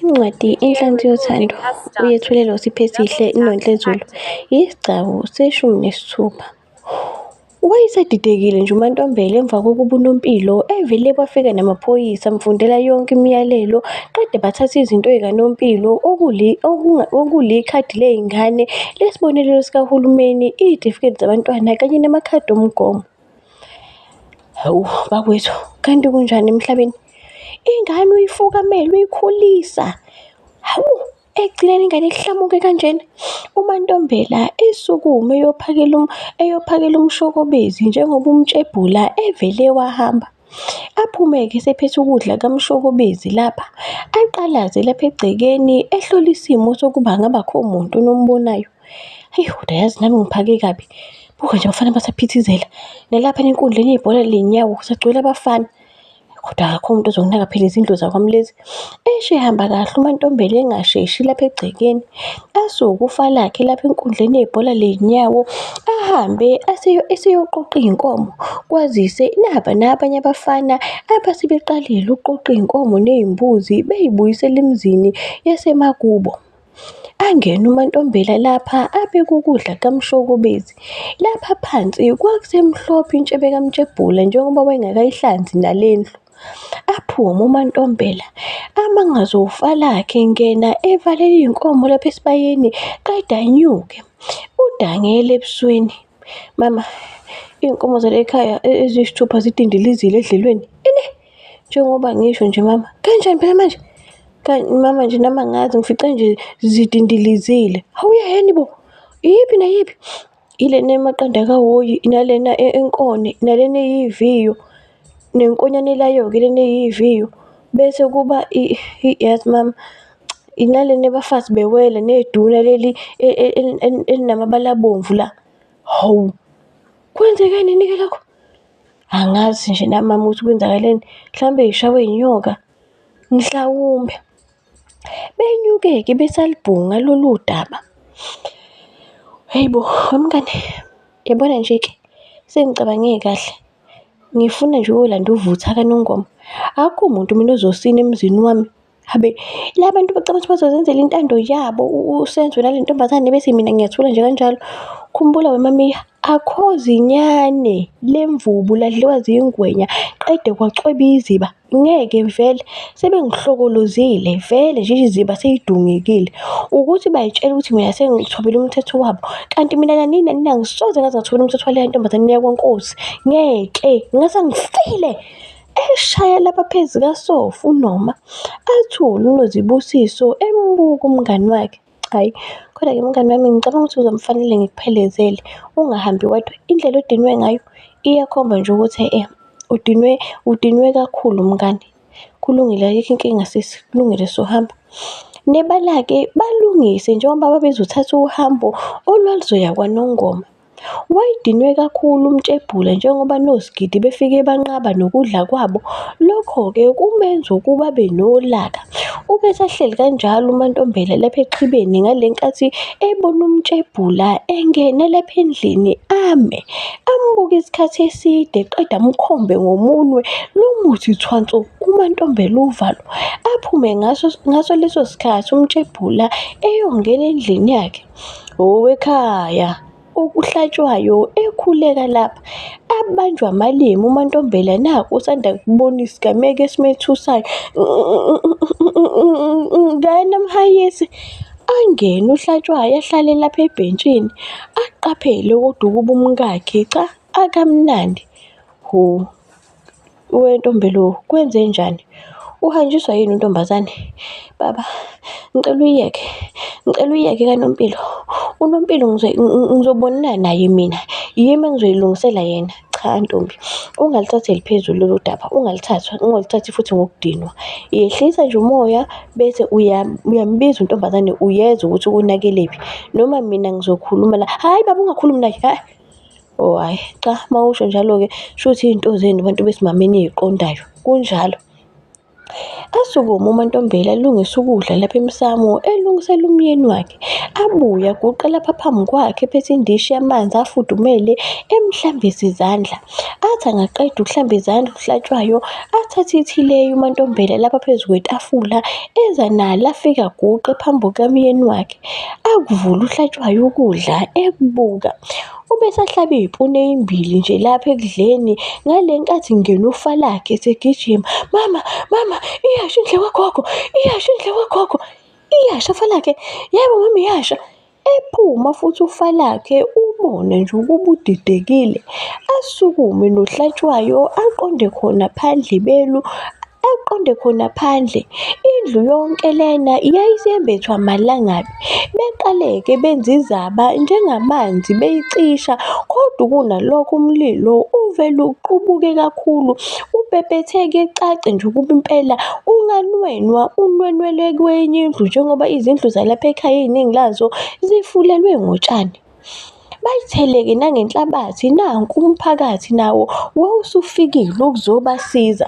Incwadi Inhlansi Yothando, uyethulelwa uSiphesihle Nontlezulu, yisigcawu seshumi nesithupha. Wayesadidekile nje uMantombela emva kokuba uNompilo evele bafika namaphoyisa amfundela yonke imiyalelo qede bathatha izinto zikaNompilo okuli, okunga, okulikhadi lezingane, lesibonelelo sikahulumeni, izitifiketi zabantwana kanye namakhadi omgomo. Hawu bakwethu, kanti kunjani emhlabeni? Ingane uyifukamela, uyikhulisa. Hawu, ekugcineni ingane ihlamuke kanjena. UMantombela esukume eyophakela eyophakela umshokobezi njengoba umtshebhula evele wahamba. Aphume-ke esephethe ukudla kamshokobezi lapha, aqalaze lapha egcekeni ehlole isimo sokuba angabe akho muntu onombonayo. Hheyi kodwa yazi nami ngiphake kabi, buka nje abafana basaphithizela, nalaphana enkundleni yebhola ley'nyawo kusagcwele abafana. Kodwa akekho umuntu ozonginaka phela izindlu zakwami lezi. Eish ihamba kahle uMantombela engasheshi lapha egcekeni, asukufa lakhe lapha enkundleni yebhola ley'nyawo, ahambe eseyoqoqa iy'nkomo kwazise naba nabanye abafana abasebeqalile ukuqoqa iy'nkomo ney'mbuzi bey'buyisela emzini yasemakubo. Angene uMantombela lapha abeke ukudla kamshokobezi, lapha phansi kwakusemhlophe intshebe kaMtshebhula njengoba wayengakayihlanzi nalendlu. Aphume uMantombela amangaze ufa lakhe ngena evalela iy'nkomo lapha esibayeni qeda anyuke. Udangele ebusweni. Mama, iy'nkomo zale ekhaya e-, eziyisithupha zidindilizile edlelweni. Ini? Njengoba ngisho nje mama. Kanjani phela manje? Kanti mama nje nami angazi ngifice nje zidindilizile. Hhawu uyaheni bo, iyiphi nayiphi? Ilena emaqanda kawoyi, nalena e-, enkone, nalena eyiviyo, nenkonyane elayo-ke lena eyiviyo. Bese kuba yazi mama, nalena ebafazi bewele, neduna leli e, e, elinamabala abomvu la. Hawu, kwenzekenini-ke lokhu? Angazi nje nami mama ukuthi kwenzakaleni, mhlawumbe ngishawe yinyoka, mhlawumbe. Benyuke-ke besalibhunga lolu daba. Hhayi bo, wemngani yabona nje-ke sengicabange kahle, ngifuna nje ukuyolanda uvutha kaNongoma. Akukho muntu mina ozosina emzini wami, habe la bantu bacabanga ukuthi bazozenzela intando yabo uSenzo nale ntombazane bese mina ngiyathula nje kanjalo. Khumbula wemamiya, akho zinyane lemvubu ladliwa ziyingwenya, qede kwacweba iziba. ngeke vele sebengihlokolozile vele nje iziba seyidungekile ukuthi bayitshela ukuthi mina sengithobile umthetho wabo kanti mina nanini nanini angisoze ngaze ngathobela umthetho waleya ntombazane niya kwenkosi ngeke ngase ngifile eshaya lapha phezu kasofa unoma athule unozibusiso embuka umngani wakhe Hhayi, kodwa-ke mngani wami ngicabanga ukuthi kuzomfanele ngikuphelezele, ungahambi wedwa. Indlela odinwe ngayo iyakhomba nje ukuthi udinwe, udinwe kakhulu mngani. Kulungile, ayikho inkinga sisi, kulungile suhamba. Nebala-ke balungise njengoba babezothatha uhambo olwaluzoya KwaNongoma. Wayedinwe kakhulu uMtshebhula njengoba noSgidi befike banqaba nokudla kwabo, lokho-ke kumenza ukuba abe nolaka. Ubesahleli kanjalo uMaNtombela lapha exhibeni ngale nkathi ebona uMtshebhula engena lapha endlini ame, ambuke isikhathi eside eqeda amkhombe ngomunwe lo muthi thwanso uMaNtombela uvalo aphume ngaso leso sikhathi uMtshebhula eyongena endlini yakhe. Owekhaya okuhlatshwayo ekhuleka lapha abanjwa amalimi uMantombela naku usanda kubona isigameko esimethusayo ngena mhayisi angene uhlatshwayo ahlale lapha ebhentshini aqaphele kodwa ukuba umkakhe cha akamnandi hho. wentombi lo kwenzenjani? Uhanjiswa yini untombazane? Baba ngicela uyiyeke, ngicela uyiyeke kaNompilo. UNompilo ngizobonana naye mina, yimi engizoyilungisela yena. Cha ntombi, ungalithatheli phezulu lolu daba, ungalithathwa, ungalithathi futhi ngokudinwa. Yehlisa nje umoya bese uyambiza untombazane uyezwa ukuthi unakelephi, noma mina ngizokhuluma la. Hhayi baba ungakhulumi naye . Oh hhayi cha uma usho njalo-ke shuthi iy'nto zenu bantu besimame eniy'qondayo, kunjalo. Asukume uMaNtombela elungisa ukudla lapha emsamo, elungisela umyeni wakhe. Abuye aguqe lapha phambi kwakhe ephethe indishi yamanzi afudumele, emhlambisa izandla. Athi angaqeda ukuhlamba izandla uHlatshwayo, athathe ithileyi uMaNtombela lapha phezu kwetafula, eza nalo afike aguqe phambi kukamyeni wakhe. Akuvule uHlatshwayo ukudla ekubuka. Ubesahlaba iy'puni ey'mbili nje lapha ekudleni ngale nkathi kungena ufa lakhe esegijima. Mama, mama, iyasha indlu yakwagogo, iyasha indlu yakwagogo. Iyasha ufa lakhe, yebo mama iyasha. Ephuma futhi ufa lakhe ubone nje ukuba udidekile. Asukume noHlatshwayo aqonde khona phandle belu, aqonde khona phandle. Indlu yonke lena yayisembethwa amalangabi. Beqale-ke benza izaba njengamanzi beyicisha kodwa kunalokho umlilo uvele uqubuke kakhulu ubhebhetheke cace nje ukuba impela unganwenwa unwenwele kwenye indlu njengoba izindlu zalapha ekhaya iningi lazo zifulelwe ngotshani. Bayitheleke nangenhlabathi nanku umphakathi nawo wawusufikile ukuzobasiza.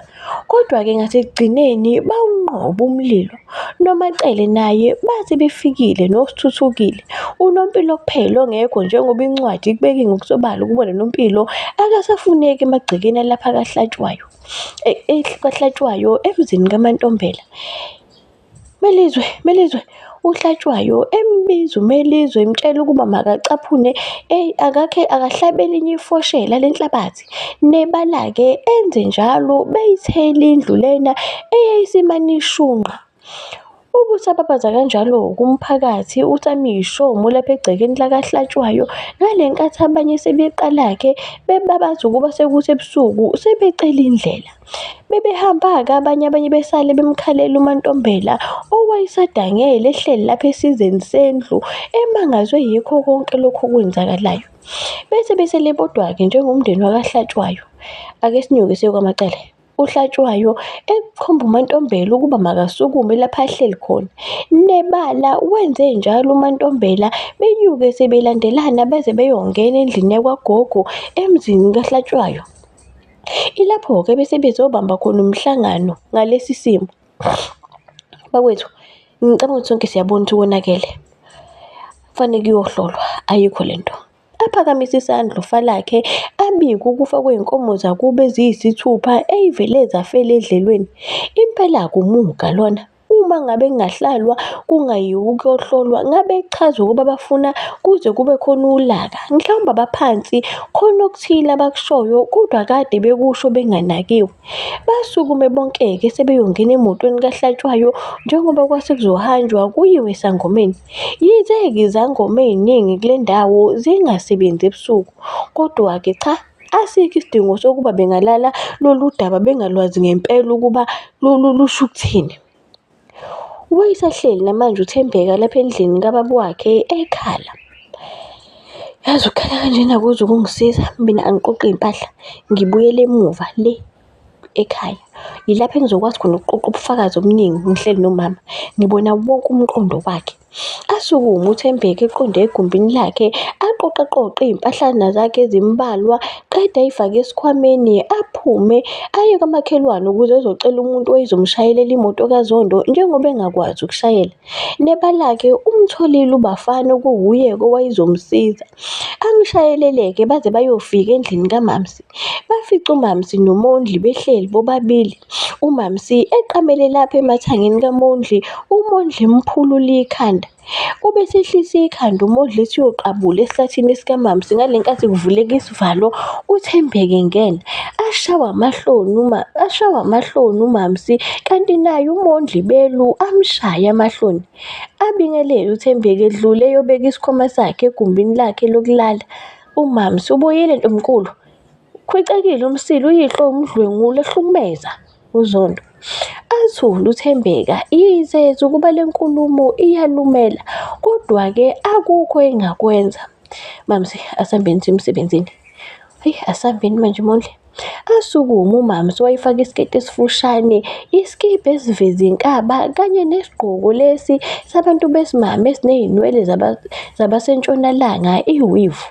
Kodwa-ke ngasekugcineni bawunqoba umlilo. NoMaCele naye bathi befikile noSthuthukile. UNompilo kuphela ongekho njengoba incwadi ikubeke ngokusobala ukubona noMpilo akasafuneki emagcekeni alapha kaHlatshwayo, kaHlatshwayo emzini kaMaNtombela. Melizwe, Melizwe, uHlatshwayo embiza uMelizwe emtshela ukuba makacaphune, eyi akakhe akahlabe elinye ifoshela lenhlabathi. Nebala-ke enze njalo beyithela indlu lena eyayisimane ishunqa. Ubusababaza kanjalo kumphakathi usamishomo lapha egcekeni lakaHlatshwayo ngale nkathi abanye sebeqala-ke bebabaza ukuba sekusebusuku sebecela indlela. Bebehamba-ke abanye abanye besale bemkhalela uMantombela owayesadangele ehleli lapha esizeni sendlu emangazwe yikho konke lokhu okwenzakalayo. Bese besele bodwa-ke njengomndeni wakaHlatshwayo. Ake sinyuke siye kwaMacele. UHlatshwayo ekhomba uMantombela ukuba makasukume lapha ahleli khona. Nebala wenze njalo uMantombela benyuke sebelandelana beze beyongena endlini yakwagogo emzini kaHlatshwayo. Ilapho-ke bese bezobamba khona umhlangano ngalesi simo. Bakwethu, ngicabanga ukuthi sonke siyabona ukuthi konakele. Kufanele kuyohlolwa, ayikho le nto. Aphakamise isandla ufa lakhe, abike ukufa kwey'nkomo zakubo eziyisithupha ey'vele zafela edlelweni. Impela akumuka lona. Uma ngabe kungahlalwa kungayiwa ukuyohlolwa ngabe kuchaza ukuba bafuna kuze kube khona ulaka. Mhlawumbe abaphansi khona okuthile abakushoyo kodwa kade bekusho benganakiwe. Basukume bonke-ke sebeyongena emotweni kaHlatshwayo njengoba kwase kuzohanjwa kuyiwe esangomeni. Yize-ke izangoma ey'ningi kule ndawo zingasebenzi ebusuku kodwa-ke cha Asikho isidingo sokuba bengalala lolu daba bengalwazi ngempela ukuba lusho ukuthini. Wayesahleli namanje uThembeka lapha endlini kababa wakhe ekhala. Yazi ukukhala kanjena akuzi ukungisiza, mina angiqoqe iy'mpahla ngibuyele emuva le. ekhaya yilapho engizokwazi khona ukuqoqa ubufakazi obuningi ngihleli nomama ngibona wonke umqondo wakhe asukume uthembeke eqonde egumbini lakhe aqoqe qoqe izimpahlana zakhe ezimbalwa qede ayifake esikhwameni aphume aye kwamakhelwane ukuze ezocela umuntu oyizomshayelela imoto kazondo njengoba engakwazi ukushayela neba lakhe umtholile ubafana okuwuye-ke owayezomsiza amshayeleleke baze bayofika endlini kamamsi Bafica uMaMsi noMondli behleli bobabili, uMaMsi eqamele lapha emathangeni kaMondli, uMondli emphulula ikhanda. Ube esehlisa ikhanda uMondli ethi uyoqabula esihlathini sikaMaMsi ngale nkathi kuvuleka isivalo, uThembeka engena. Ashawe amahloni ashawe amahloni uMaMsi kanti naye uMondli belu amushaye amahloni. Abingelele uThembeka edlula eyobeka isikhwama sakhe egumbini lakhe lokulala. Umama usubuyile ntomkulu. Khwicekile umsila uyihlo umdlwengula ehlukumeza uZondo. Athule uThembeka yizeza ukuba le nkulumo iyalumela kodwa-ke akukho engakwenza. Mamsi asambeni simsebenzini. Ayi asambeni manje Mondli. Asukume uMamsi wayifaka isiketi esifushane, isikibha esiveza inkaba kanye nesigqoko lesi sabantu besimame esinezinwele zabasentshonalanga i-weave.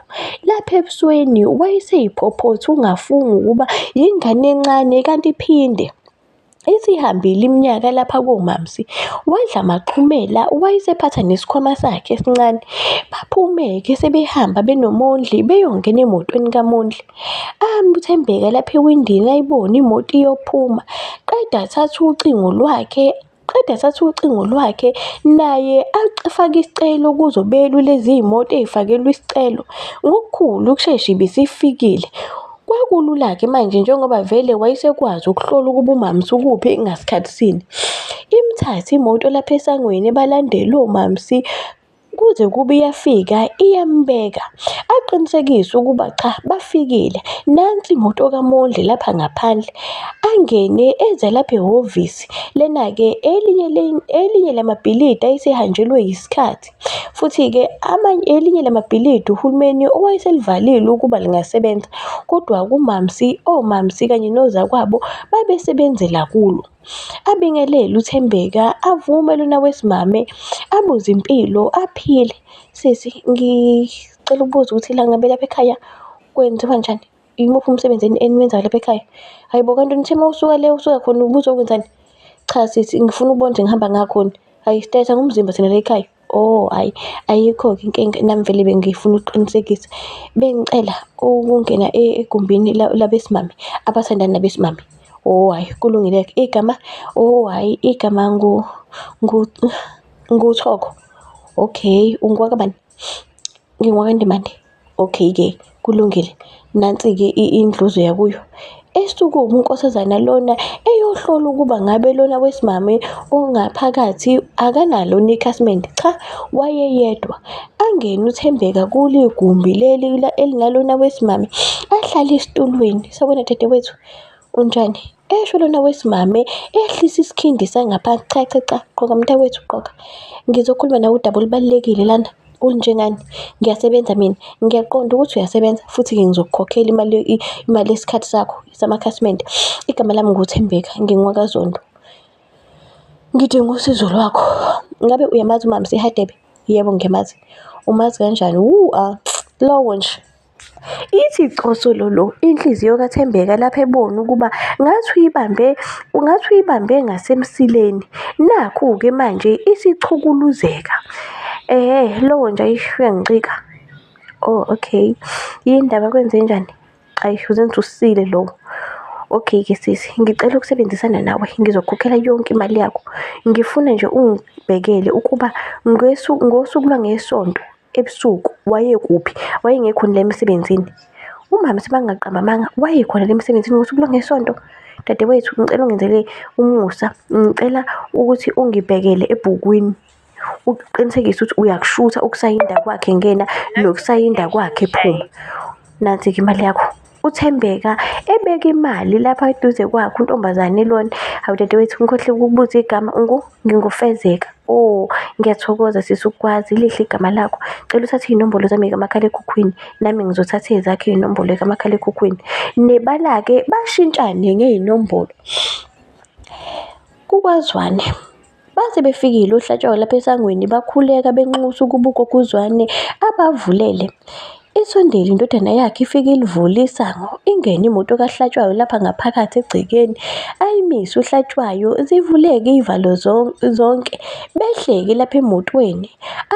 Lapha ebusweni wayeseyiphophothi ungafunga ukuba yingane encane kanti iphinde. Isihambile iminyaka lapha koMaMsi, wadla amaxhumela wayesephatha nesikhwama sakhe esincane. Baphume-ke sebehamba benoMondli beyongena emotweni kaMondli. Ame uThembeka lapha ewindini ayibone imoto iyophuma, qede athathe ucingo lwakhe. Qede sathi ucingo lwakhe naye afake isicelo kuzo belule ziyimoto ezifakelwe isicelo. Ngokukhulu ukushesha ibisifikile. Kwakulula-ke manje njengoba vele wayesekwazi ukuhlola ukuba uMam's ukuphi ngasikhathi sini. Imthathe imoto lapha esangweni balandele oMam's kuze kube iyafika iyambeka aqinisekise ukuba cha bafikile nansi imoto kaMondli lapha ngaphandle angene eze lapha ehhovisi lena-ke elinye elinye lamabhilidi ayesehanjelwe yisikhathi futhi-ke amanye elinye lamabhilidi uhulumeni owayeselivalile ukuba lingasebenza kodwa kumamsi omamsi kanye nozakwabo babesebenzela kulo. Abingelele uThembeka avume lona wesimame abuze impilo aphile. Sisi ngicela ukubuza ukuthi la ngabe lapha ekhaya kwenziwa njani? Imuphi umsebenzi eniwenzayo lapha ekhaya? Hhayi bo kanti nithe uma usuka le usuka khona ubuzokwenzani? Cha sisi ngifuna ukubona ukuthi ngihamba ngakhoni. Hhayi stetha ngumzimba thina la ekhaya. Oh hhayi, ayikho-ke inkinga nami vele bengifuna ukuqinisekisa. Bengicela ukungena egumbini labesimame, abathandani nabesimame. Oh hhayi, kulungile-ke. Igama, oh hhayi, igama ngu, ngu, nguThoko. Okay, ungowakabani? NgingowakaNdimande. Okay-ke kulungile, nansi-ke indluzo yakuyo. Esukume unkosazana lona eyohlola ukuba ngabe lona wesimame ongaphakathi akanalo nekhasimende. Cha, wayeyedwa. Angene uThembeka kule gumbi leli elinalona wesimame, ahlale esitulweni. Sawubona dadewethu, unjani? Esho lona wesimame ehlisa isikhindi sangaphansi cha cha cha qoka mntakwethu qoka. Ngizokhuluma nawe udaba olubalulekile lana olunjengani ngiyasebenza mina ngiyaqonda ukuthi uyasebenza futhi ngizokukhokhela imali imali yesikhathi sakho samakhasimende. Igama lami nguThembeka ngingokaZondo. Ngidinga usizo lwakho. Ngabe uyamazi uMaMse Hadebe? Yebo ngiyamazi. Umazi kanjani? Wuu lowo nje. Ithi cosololo inhliziyo kaThembeka lapho ebona ukuba ngathi uyibambe, ngathi uyibambe ngasemsileni. Nakhu-ke manje isichukuluzeka. Ehhe, lowo nje ayish uyangicika. Oh okay, yini ndaba kwenzenjani? Ayish uzenza usile lowo. Okay-ke sisi, ngicela ukusebenzisana nawe ngizokhokhela yonke imali yakho. Ngifuna nje ungibhekele ukuba ngosuku lwangeSonto. Ebusuku wayekuphi? Wayengekhona la emsebenzini. Umama sebangaqamba amanga, wayekhona la emsebenzini ngosuku lwangesonto. Dadewethu, ngicela ungenzele umusa. Ngicela ukuthi ungibhekele ebhukwini. Uqinisekise ukuthi uyakushutha ukusayinda kwakhe ngena, nokusayinda kwakhe phuma. Nansi-ke imali yakho. uThembeka ebeka imali lapha eduze kwakhe untombazane lona. Hawu dadewethu ngikhohle ukubuza igama ungu ngingufezeka. Oh ngiyathokoza sisi ukwazi lihle igama lakho. Cela uthathe iy'nombolo zami kamakhalekhukhwini nami ngizothatha ezakhe iy'nombolo kamakhalekhukhwini. Nebala-ke bashintshane ngey'nombolo kukwazwane. Baze befikile oHlatshwayo lapha esangweni bakhuleka benxusa ukuba uGoguzwane abavulele. Isondele indodana yakhe ifike ilivule isango, ingene imoto kaHlatshwayo lapha ngaphakathi egcekeni. Ayimise uHlatshwayo, zivuleke iy'valo zonke, behleke lapha emotweni.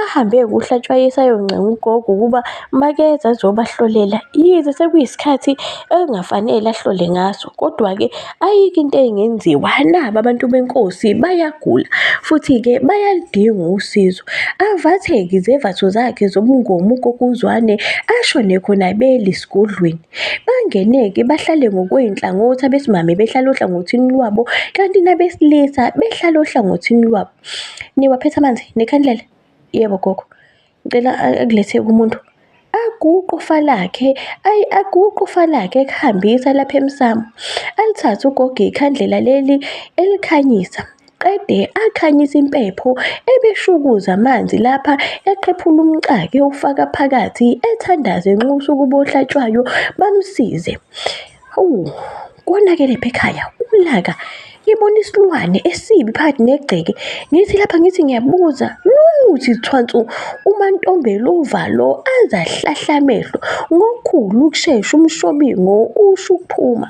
Ahambe eyokuhlatshwayisa ayoncenga ugogo ukuba makeze azobahlolela yize sekuyisikhathi engafanele ahlole ngaso. Kodwa-ke ayikho into engenziwa naba abantu benkosi bayagula futhi-ke bayaludinga usizo. Avathe-ke izembatho zakhe zobungomu ugogo uZwane ashone khona beli esigodlweni. Bangene-ke bahlale ngokwey'nhlangothi abesimame behlala ohlangothini lwabo kanti nabesilisa behlala ohlangothini lwabo. Niwaphethe amanzi nekhandlela? Yebo gogo. Ngicela akulethe kumuntu. Aguqe ufa lakhe, ayi aguqe ufa lakhe ekuhambisa lapha emsamo. Alithathe ugogo ikhandlela leli elikhanyisa. Qede akhanyisa impepho ebeshukuza amanzi lapha eqephula umxake ewufaka phakathi ethandaze enxusa ukuba ohlatshwayo bamsize. Hawu, konakele lapha ekhaya ulaka ibona isilwane esibi phakathi negceke ngithi lapha ngithi ngiyabuza luthi thwansu umantombelova lo azahlahla amehlo ngokukhulu ukushesha umshobingo usho ukuphuma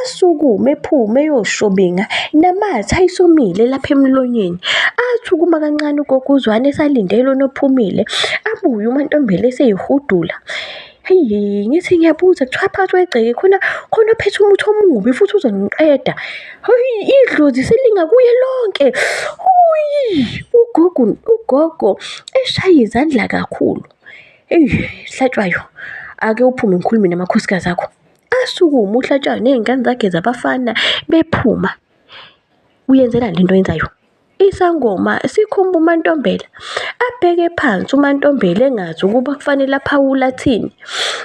asukume ephume eyoshobinga namathe ayisomile lapha emlonyeni athi ukuma kancane ugoguzwane esalindele onophumile abuye umantombela eseyihudula Hheyi ngithi ngiyabuza kuthiwa phakathi kwegceke khona khona ophethe umuthi omubi futhi uzongiqeda. Hheyi idlozi selinga kuye lonke. Uyi ugogo ugogo eshaye izandla kakhulu. Eyi Hlatshwayo ake uphume ngikhulume namakhosikazi akho. Asukume uHlatshwayo ney'ngane zakhe zabafana bephuma. Uyenzela le nto oyenzayo. Isangoma sikhumba uMantombela, abheke phansi uMantombela engazi ukuba kufanele aphawule athini.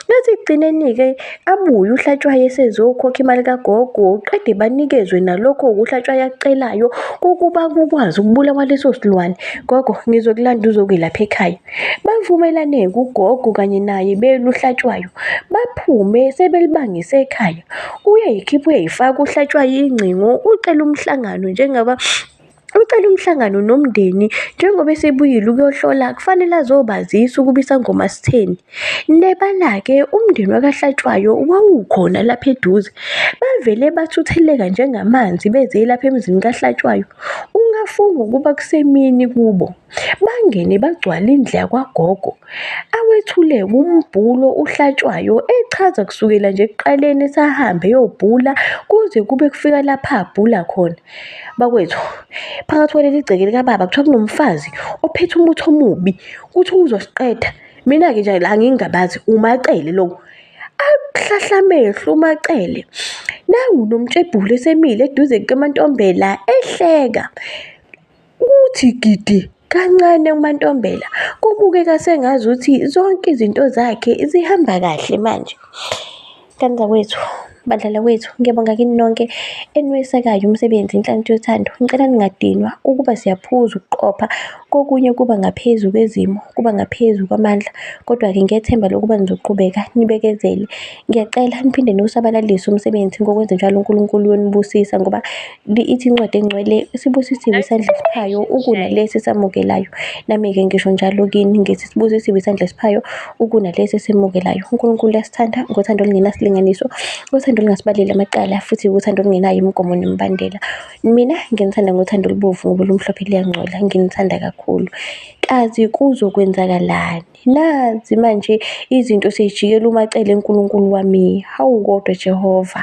Ngathi ekugcineni-ke abuye uHlatshwayo esezokhokha imali kagogo, qede banikezwe nalokho uHlatshwayo akucelayo ukuba kukwazi ukubulawa leso silwane. Gogo, ngizokulanda uzokwelapha ekhaya. Bavumelane-ke ugogo kanye naye belu uHlatshwayo, baphume sebelibangise ekhaya. Uyayikhipha uyayifaka uHlatshwayo ingcingo, ucela umhlangano njengaba ucela umhlangano nomndeni njengoba esebuyile ukuyohlola kufanele azobazisa ukuba isangoma sitheni. Nebala-ke umndeni wakaHlatshwayo wawukhona lapha eduze, bavele bathutheleka njengamanzi beze lapha emzini kaHlatshwayo. Ungafunga ukuba kusemini kubo. Bangene bagcwala indlu yakwagogo, awethule wumbhulo ohlatshwayo echaza kusukela nje ekuqaleni esahambe eyobhula kuze kube kufika lapha abhula khona. Bakwethu, phakathi kwaleli gceke likababa kuthiwa kunomfazi ophethe umuthi omubi, kuthiwa uzosiqeda. Mina-ke nje la ngingabazi, uMaCele lo. Ahlahla amehlo uMaCele, nangu uNomtshebhuli esemile eduze kukaMantombela ehleka. Kuthi gidi kancane uMantombela kubukeka sengazi ukuthi zonke izinto zakhe zihamba kahle manje. Kanza kwethu badlala kwethu ngiyabonga kini nonke eniwesekayo umsebenzi inhlanhla yothando ngicela ningadinwa ukuba siyaphuza ukuqopha kokunye kuba ngaphezu kwezimo kuba ngaphezu kwamandla kodwa-ke ngethemba lokuba nizoqhubeka nibekezele ngiyacela niphinde niwusabalalise umsebenzi ngokwenze njalo uNkulunkulu uyonibusisa ngoba Li ithi incwadi engcwele sibusisiwe isandla esiphayo ukuna lesi esamukelayo. Nami-ke ngisho njalo kini ngithi sibusisiwe isandla esiphayo ukuna lesi esemukelayo. UNkulunkulu uyasithanda ngothando olungenasilinganiso, uthando olungasibaleli amacala futhi uthando olungenayo imigomo nemibandela. Mina nginithanda ngothando olubovu ngoba olumhlophe luyangcola, nginithanda kakhulu. Kazi kuzokwenzakalani? Nazi manje izinto seyijikela umacele uNkulunkulu wami. Hawu kodwa Jehova!